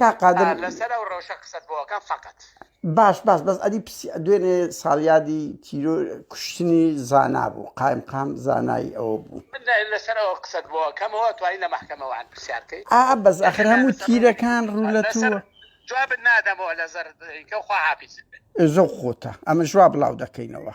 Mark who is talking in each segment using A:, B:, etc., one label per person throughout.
A: کاک قادر لەسەر ئەو ڕەوشە قسەت
B: بۆ ئەکەم فەقەت. باش باش بەس
A: ئەدی پسی دوێنێ ساڵیادی تیرۆر کوشتنی زانا بوو قایمقام زانای ئەوە بوو. من لەسەر ئەوە قسەت
B: بۆ ئەکەم ئەوە توانی لە مەحکەمەوە عەن پرسیار کەی. ئا بەس ئاخر هەموو
A: تیرەکان ڕوو لە تۆ. لەسەر جوابت نادەمەوە
B: لەزەر کەو خواحافیزت بێت. ئێ زۆ خۆتە
A: ئەمە ژوا بڵاو دەکەینەوە.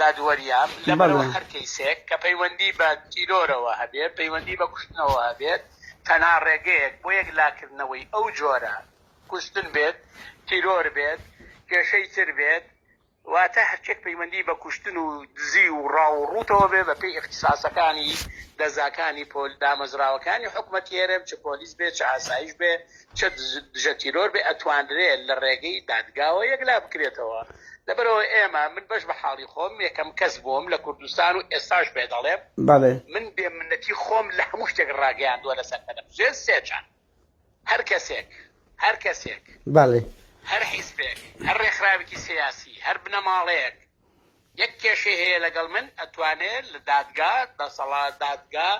B: دادوەریان، لەبەرئەوەی هەر کەیسێک کە پەیوەندی بە تیرۆرەوە هەبێت، پەیوەندی بە کوشتنەوە هەبێت، تەنها ڕێگەیەک بۆ یەکلاکردنەوەی ئەو جۆرە کوشتن بێت، تیرۆر بێت، کێشەی تر بێت، واتە هەرچییەک پەیوەندی بە کوشتن و دزی و ڕاو و ڕووتەوە بێت، بەپێی ئیختیساسەکانی دەزگاکانی دامەزراوەکانی حکومەتی هەرێم، چ پۆلیس بێت، چ ئاسایش بێت، چەک دژە تیرۆر بێ ئەتوانرێ لە ڕێگەی دادگاوە یەکلا بکرێتەوە لەبەرەوە ئێمە من بەش بە حاڵی خۆم یەکەم کەس بووم لە کوردستان و ئێستاش پێ دەڵێم من بێ منەتی خۆم لە هەموو شتێک ڕاگەیاندووە لەسەر بەرم ژێر سێچان هەر کەسێک هەر کەسێک هەر حیزبێک هەر ڕێکخراوێکی سیاسی هەر بنەماڵەیەک یەک کێشەی هەیە لەگەڵ من ئەتوانێت لە دادگا دەسەڵات دادگا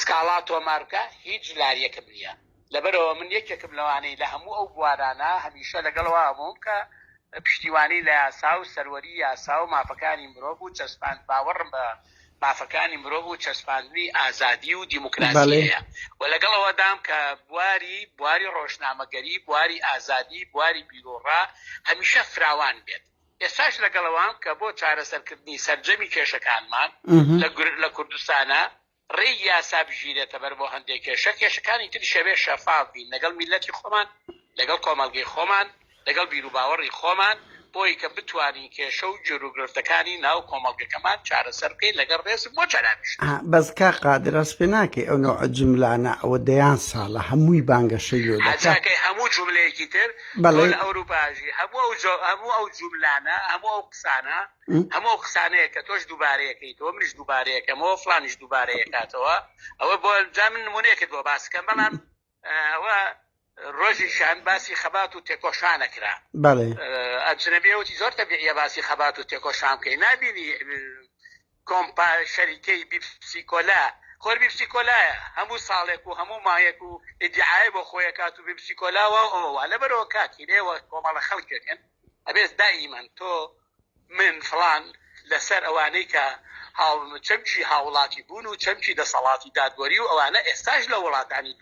B: سکاڵا تۆمار بکە هیچ لاریەکم نییە لەبەرەوە من یەکێکم لەوانەی لە هەموو ئەو بوارانە هەمیشە لەگەڵەوە هەمووم کە پشتیوانی لە یاسا و سەروەری یاسا و مافەکانی مرۆڤ و چەسپان باوەڕم بە مافەکانی مرۆڤ و چەسپاندنی ئازادی و دیموکراسیەیە و لەگەڵەوەدام کە بواری بواری ڕۆژنامەگەری بواری ئازادی بواری بیرۆڕا هەمیشە فراوان بێت ئێستاش لەگەڵەوام کە بۆ چارەسەرکردنی سەرجەمی کێشەکانمان لە کوردستانە ڕێی یاسا بگیرێتە بەر بۆ هەندێک کێشە کێشەکانی تری شەوێ شەفاف بین لەگەڵ میلەتی خۆمان لەگەڵ کۆمەلگەی خۆمان لەگەڵ بیروباوەڕی خۆمان بۆی کە بتوانین کێشە و جۆروگرفتەکانی ناو کۆمەڵگەکەمان چارەسەر بکەین لەگەڵ ڕێز بۆ چاراویش بەس کا
A: قادرەس پێ ناکەی ئەو نەوە جملانە ئەوە دەیان ساڵە هەمووی بانگەشەی لۆ دەکەی هەموو
B: جملەیەکی تر بەڵێ. تۆ لە ئەوروپا ئەژی. هەموو ئەو جۆ هەموو ئەو جوملانە هەموو ئەو قسانە هەموو ئەو قسانەیە کە تۆش دووبارەی ئەکەیتەوە منیش دووبارەی ئەکەمەوە فڵانیش دووبارەی ئەکاتەوە ئەوە بۆ جا من نموونەیەکت بۆ باس کەم بەڵام ئەوە ڕۆژی شان باسی خەبات و تێکۆشانە کرا بەڵێ. ئەجنەبیەوتی زۆر تەبیعیە باسی خەبات و تێکۆشان بکەی نابینی کۆمپا شەریکەی بیپسی کۆلا خۆر بیپسی کۆلایە هەموو ساڵێک و هەموو مایەک و ئیدیعای بۆ خۆی ئەکات و بیپسی کۆلا وا ئەوە وا لەبەرەوە کاکی لێوە کۆمەڵە خەڵکێک هەن ئەبێت دائیمەن تۆ من فڵان لەسەر ئەوانەی کە هاو چەمکی هاوڵاتی بوون و چەمکی دەسەڵاتی دادوەری و ئەوانە ئێستاش لە وڵاتانی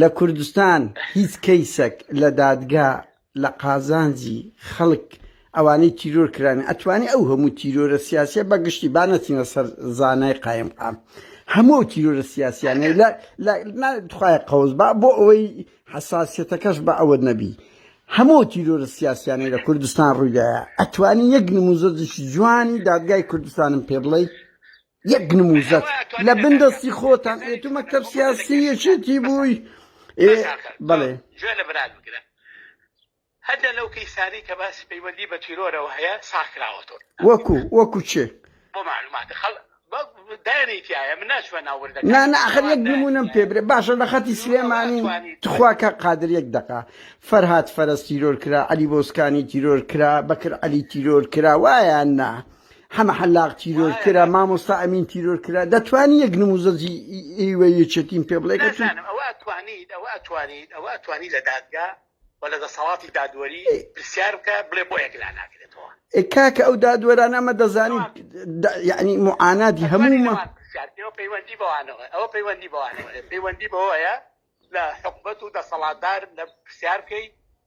A: لە کوردستان هیچ کەیسەک لە دادگا لە قازانجی خەڵک ئەوانەی تیرۆر کرانە ئەتوانێ ئەو هەموو تیرۆرە سیاسیە بە گشتی با نەچینە سەر زانای قایم قام هەموو ئەو تیرۆرە سیاسیانەی لە دخوای قەوز با بۆ ئەوەی حساسیەتەکەش بە ئەوە نەبی هەموو تیرۆرە سیاسیانەی لە کوردستان ڕوویدایە ئەتوانی یەک نموزەجیش جوانی دادگای کوردستانم پێ بڵیت یەک نموزەت لە بن دەستی خۆتان ئێ تو مەکتب سیاسی یەکێتی بووی بەڵێ جوێ لە برات
B: بگرە هەدە لەو کەیسانی کە باسی پەیوەندی بە تیرۆرەوە هەیە ساخراوەەوە وەکو وەکو
A: چێ بۆ معلومات
B: خەڵ دانیتیایە من ناچوە ناوردە نا ناخر یەک
A: نمونم پێ برێ باشە لە خەتی سلێمانی تخوا کە قادر یەک دقا فەرهاات فەرست تیرۆر کرا علی بۆسکانی تیرۆر کرا بەکر علی تیرۆر کرا وایە نا. حەمە حەلاق تیرۆر کرا مامۆستا ئەمین تیرۆر کرا دەتوانی یەک نموزەجی ئیوە یەچێتیم پێ بڵێ ئەوە توانیت ئەوە توانیت ئەوە توانی لە
B: دادگا و لە دەسەڵاتی دادوەری پرسیار بکە بڵێ بۆ یەکلا ناکرێتەوە کاکە ئەو
A: دادوەرانە ئەمە دەزانی یعنی معاناتی هەموو پەیوەندی بەوانەوە ئەوە پەیوەندی
B: بەوانەوە پەیوەندی بەوەیە لە حکومەت و دەسەڵاتدار لە پرسیار بکەیت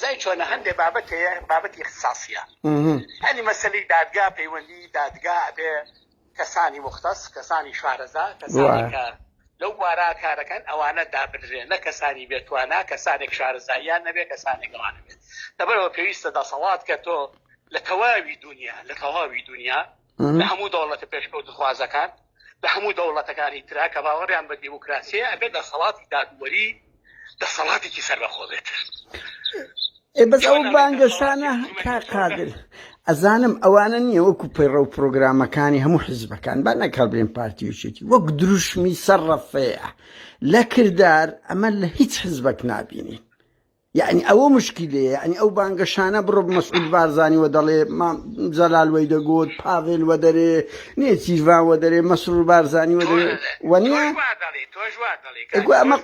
B: زای چۆنە هەندێ بابەت هەیە بابەتی اختصاصیە هەنی مەسلی دادگا پەیوەندی دادگا ئەبێ کەسانی مختەس کەسانی شارەزا کەسانی کە لەو بارا کارەکەن ئەوانە دابدرێن نە کەسانی بێتوانە کەسانێک شارەزاییان نەبێ کەسانێک ئەوانە بێت دەبەرەوە پێویستە دەسەڵات کە تۆ لە تەواوی دنیا لە تەواوی دنیا لە هەموو دەوڵەتە پێشکەوتخوازەکان لە هەموو دەوڵەتەکانی ترا کە باوەڕیان بە دیموکراسیە ئەبێت لە سەڵاتی دادوەری دەسەڵاتێکی سەربەخۆبێت
A: بەس ئەو بانگەشانە کا قادر ئەزانم ئەوانە نییە وەکو پەیڕە و پرۆگرامەکانی هەموو حزبەکان با نەکەڵبێن پارتیوچێتی وەک دروشمی سەرڕەفەیە لە کردار ئەمە لە هیچ حزبەک نبینین یەعنی ئەوە مشکیلەیە یەعنی ئەو بانگەشانە بڕۆ مەسعود بارزانانی وە دەڵێ مام جەلال وەی دەگوت پاڤێل وە دەرێ نێچیرڤان وە دەرێ مەسرور بارزانانی وە دەرێ وە نیە ئەگو ئەمە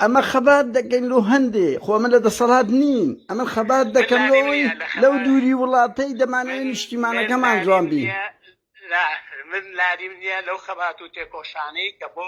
A: ئەمە خەبات دەکەین لۆ هەندێ خۆ ئەمە لە دەسەڵات نین ئەمە خەبات دەکەن لەوەی لەو دووری وڵاتەی دەمانەوەی نیشتیمانەکەمان جوان بین من لاریم نییە
B: لەو خەبات و تێکۆشانەی کە بۆ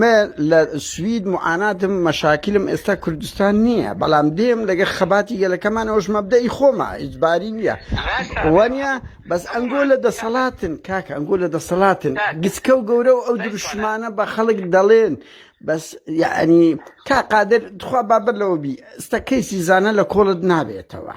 A: مە لە سوید معاناتم مەشاکلم ئێستا کوردستان نییە بەڵام دێم لەگە خەباتی گەلەکەمان ئەوش مەبدەی خۆمە ئیجباری نییە وەنیە بەس ئەنگۆ لە دەسەڵاتن کاکە ئەنگۆ لە دەسەڵاتن گچکە و گەورە و ئەو دروشمانە بە خەڵک دەڵێن بەس یعنی تا قادر دخوا بابەر لەوە بی ئستا کەیسی زانە لە کۆڵت نابێتەوە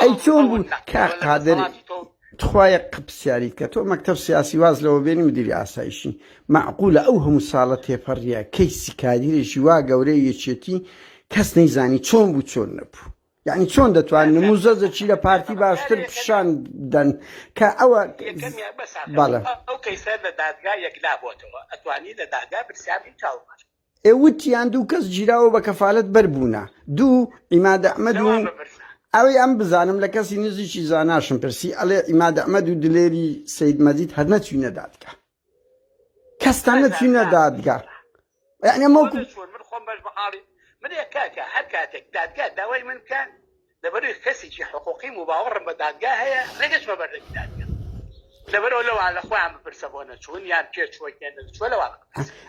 B: ئەی چۆن
A: بوو کاک قادر تخوایە قپسیاریت کە تۆ مەکتب سیاسی واز لەوە بێنی مدیری ئاسایشی معقولە ئەو هەموو ساڵە تێپەڕیە کەی سیکادیرێکی وا گەورەی یەکێتی کەس نەیزانی چۆن بوو چۆن نەبوو یعنی چۆن دەتوان نموزە زەچی لە پارتی باشتر پیشان دەن کە ئەوە بەڵێ
B: ئەو کەیسە لە دادگا یەکلا بۆتەوە ئەتوانی لە دادگا پرسیاری چاوەڕوان ئێ وتیان دوو
A: کەس گیراوە بە کەفالەت بەر بوونە دوو ئیماد ئەحمەد و ئەوی ئەم بزانم لە کەسی نزیکی زاناشم پرسی ئەلێ ئیماد ئەحمەد و دلێری سید مەجید هەر نەچوینە دادگا کەستان نەچوینە دادگا یعنی مۆ من خۆم بەش بە
B: حاڵی من کاکە هەر کاتێک دادگا داوای من بکە لەبەروی کەسیکی حقوقیم و باوەڕم بە دادگا هەیە نەگەچمە بەردەمی دادگا لەبەرەوە لەوە لە خۆیان بپرسە بۆ نەچوون یان پێ چووە کێن چوە لەوە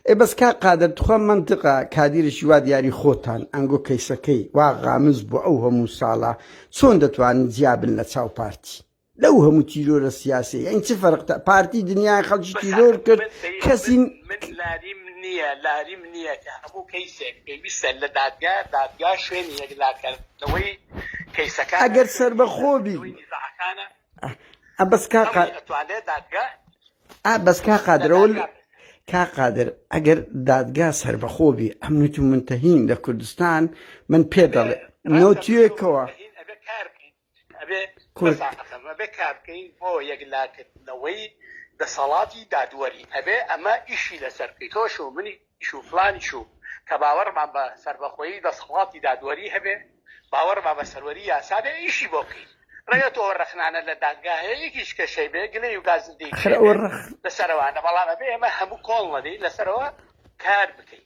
B: ئێ بەس کا
A: قادر تخوا منطقە کادیرشی وا دیاری خۆتان ئەنگۆ کەیسەکەی وا غامز بۆ ئەو هەموو ساڵە چۆن دەتوانن جیابن لە چاو پارتی. لەو هەموو تیرۆرە سیاسێ یعنی چ فەرق تا پارتی دنیای خەڵکی تیرۆر کرد کەسی لاریم نییە لاریم
B: نییە کە هەموو کەیسێک پێویستە لە دادگا دادگا شوێنی یەکلاکردنەوەی کەیسەکە ئەگەر سربەخۆبی
A: بەس کاقا دادگا بەس کا قادرەوە کا قادر ئەگەر دادگا سربەخۆبی ئەم نوت و منتەهین لە کوردستان من پێ دەڵێ نوتیەکەوە
B: کورد ئەبێ کارکەین بۆ یەکلاکردنەوەی دەسەڵاتی دادوەری ئەبێ ئەمە ئیشی لەسەر بکەی تۆش و منی شو فلانی شو کە باوەڕمان بە سربەخۆیی دەسەڵاتی دادوەری هەبێ باوەڕما بە سەروەری یاسابێ ئیشی بۆ بکەین ڕێگە تۆ ڕخنانە لە دادگاه یەکیش کەشەی بێ گلەی و گازندەی لەسەرەوانە بەڵام ئەبێ ئێمە هەموو کۆڵ نەدەی لەسەرەوە کار بکەین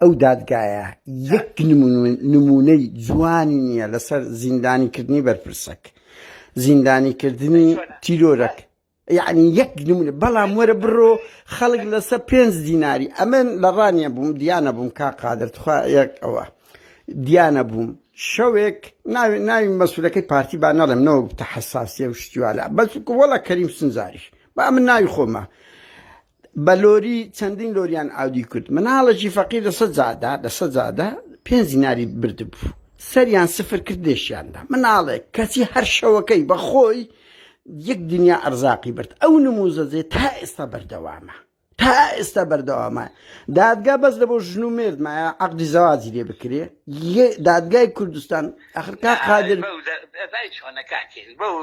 A: ئەو دادگایە یەک نمونەی جوانی نییە لەسەر زیندانیکردنی بەرپرسەک زیندانیکردنی تیرۆرەک یعنی یەک نمونە بەڵام وەرە بڕۆ خەڵک لەسەر پێنج دیناری ئەمن لە ڕانیە بووم دیانە بووم کا قادر تخوا یەک ئەوە دیانە بووم شەوێک ناوێت ناوی مەسولەکەی پارتی با نەڵێم نەوە بتە حساسیە و شتیوالا بەس وەڵە کەریم سنجاریش با من ناوی خۆمە بە لۆری چەندین لۆریان ئاودی کرد مناڵێکی فەقیر لە سە جادا لە سە جادا پێ زیناری بردبوو سەریان سفر کرد لێشیاندا مناڵێک کەچی هەر شەوەکەی بە خۆی یەک دنیا ئەرزاقی برد ئەو نموزەجێ تا ئێستا بەردەوامە تا ئێستا بەردەوامە دادگا بەس لە بۆ ژن و مێرد مایە عقدی زەواجی لێ بکرێ دادگای کوردستان ئەخرکا قادر چۆنەکاتێن بەو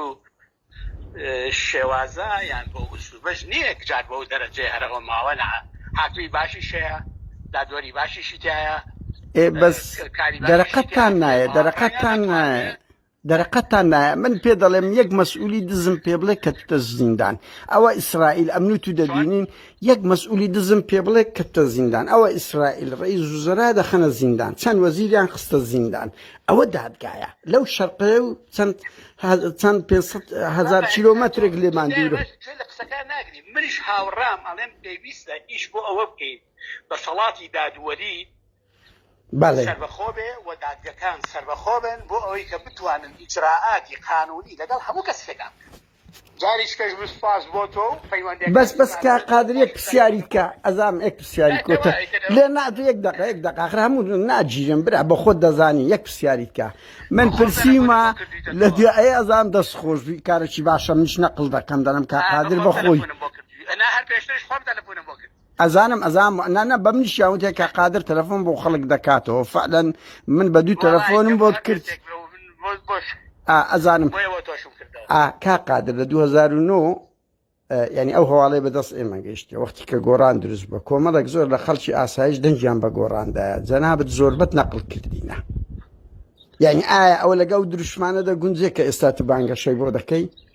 B: شێوازە یان بەو ئسلوبەش نیە جار بەو دەرەجەی هەرە ئەو ماوە نە هاتووی باشیش هەیە دادوەری باشیشی تایە ئێ بەس
A: دەرەقەتتان نایە دەرەقەتتان نایە دەرەقەتان نایە من پێ دەڵێم یەک مەسئولی دزم پێ بڵێ کە تە زیندان ئەوە ئیسرائیل ئەمن تو دەبینین یەک مەسئولی دزم پێ بڵێ کە تە زیندان ئەوە ئیسرائیل ڕێز وزرا دەخەنە زیندان چەند وەزیریان خستە زیندان ئەوە دادگایە لەو شەرقەیە و چەند چەند پێ هزار کیلومترێک لێمان دوور لە قسەکان ناگری
B: منیش هاوڕام ئەڵێم پێویستە ئیش بۆ ئەوە بکەین بە سەڵاتی دادوەری سەربەخۆ بێ و دادگەکان سەربەخۆ بن بۆ ئەوەی کە بتوانن ئیجرراعاتی قانونی لەگەڵ هەموو کەسێکان جاریشکەش من سوپاس بۆ تۆ و پەیوەندیەکەت بەس بەس کاک
A: قادر یەک پرسیاریت کا ئەزام یەک پرسیاری کۆتە لێ نا تو یەک دەقە یەک دەقە ئاخر هەموو ناجیرم برا بە خۆت دەزانی یەک پرسیاریت کا من پرسیمە لە دوێ ئەی ئەزام دەست خۆش بی کارەکی باشە منیش نەقل دەکەم دەڵێم کاک قادر بە خۆی ئەنا هەر
B: پێشترش خۆم تەلەفۆنم بۆ کرد ئەزانم ئەزانم نا
A: نا بە منیشیان وتێ کە قادر تەلەفۆن بۆ خەڵک دەکاتەوە فعلەن من بە دوو تەلەفۆنم بۆت کرد ئەزانم کا قادر لە 2009 ینی ئەو هەواڵی بەدەست ئێمە گەیشتە وەختی کە گۆران دروست بە کۆمەڵێک زۆر لە خەڵکی ئاسایش دەنگیان بە گۆڕاندایە جەنابەت زۆربەت نەقل کردینە یعنی ئایا ئەوە لەگەڵ دروشمانە دەگونجێ کە ئێستا تو بانگەشەی بۆ دەکەی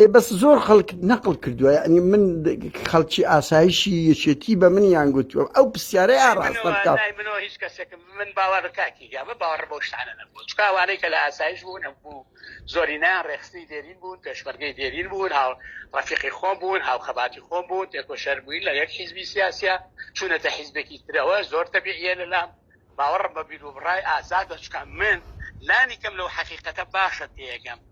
B: ئێ
A: بەس زۆر خەڵک نەقڵ کردووە یعنی من خەڵکی ئاسایشی یەکێتی بە من یان گوتووە ئەو پرسیارەی ئاڕاستە بکە منۆ هیچ کەسێکم
B: من باوە کاکی گیامە باوەڕ بۆ شتانە نەبوو چکاوانەی کە لە ئاسایش بوون ئەم بوو زۆری نان ڕێخستی دێرین بوون پێشمەرگەی دێرین بوون هاو ڕفیقی خۆم بوون هاو خەباتی خۆم بوون تێکۆ شەر بووین لە یەک حیزبی سیاسە چونەتە حیزبێکی ترەوە زۆر تەبیعە لەلام باوەڕم بە بیر و بڕای ئازادە چکە من لانی کەم لەو حقیقەتە باشە تێگەم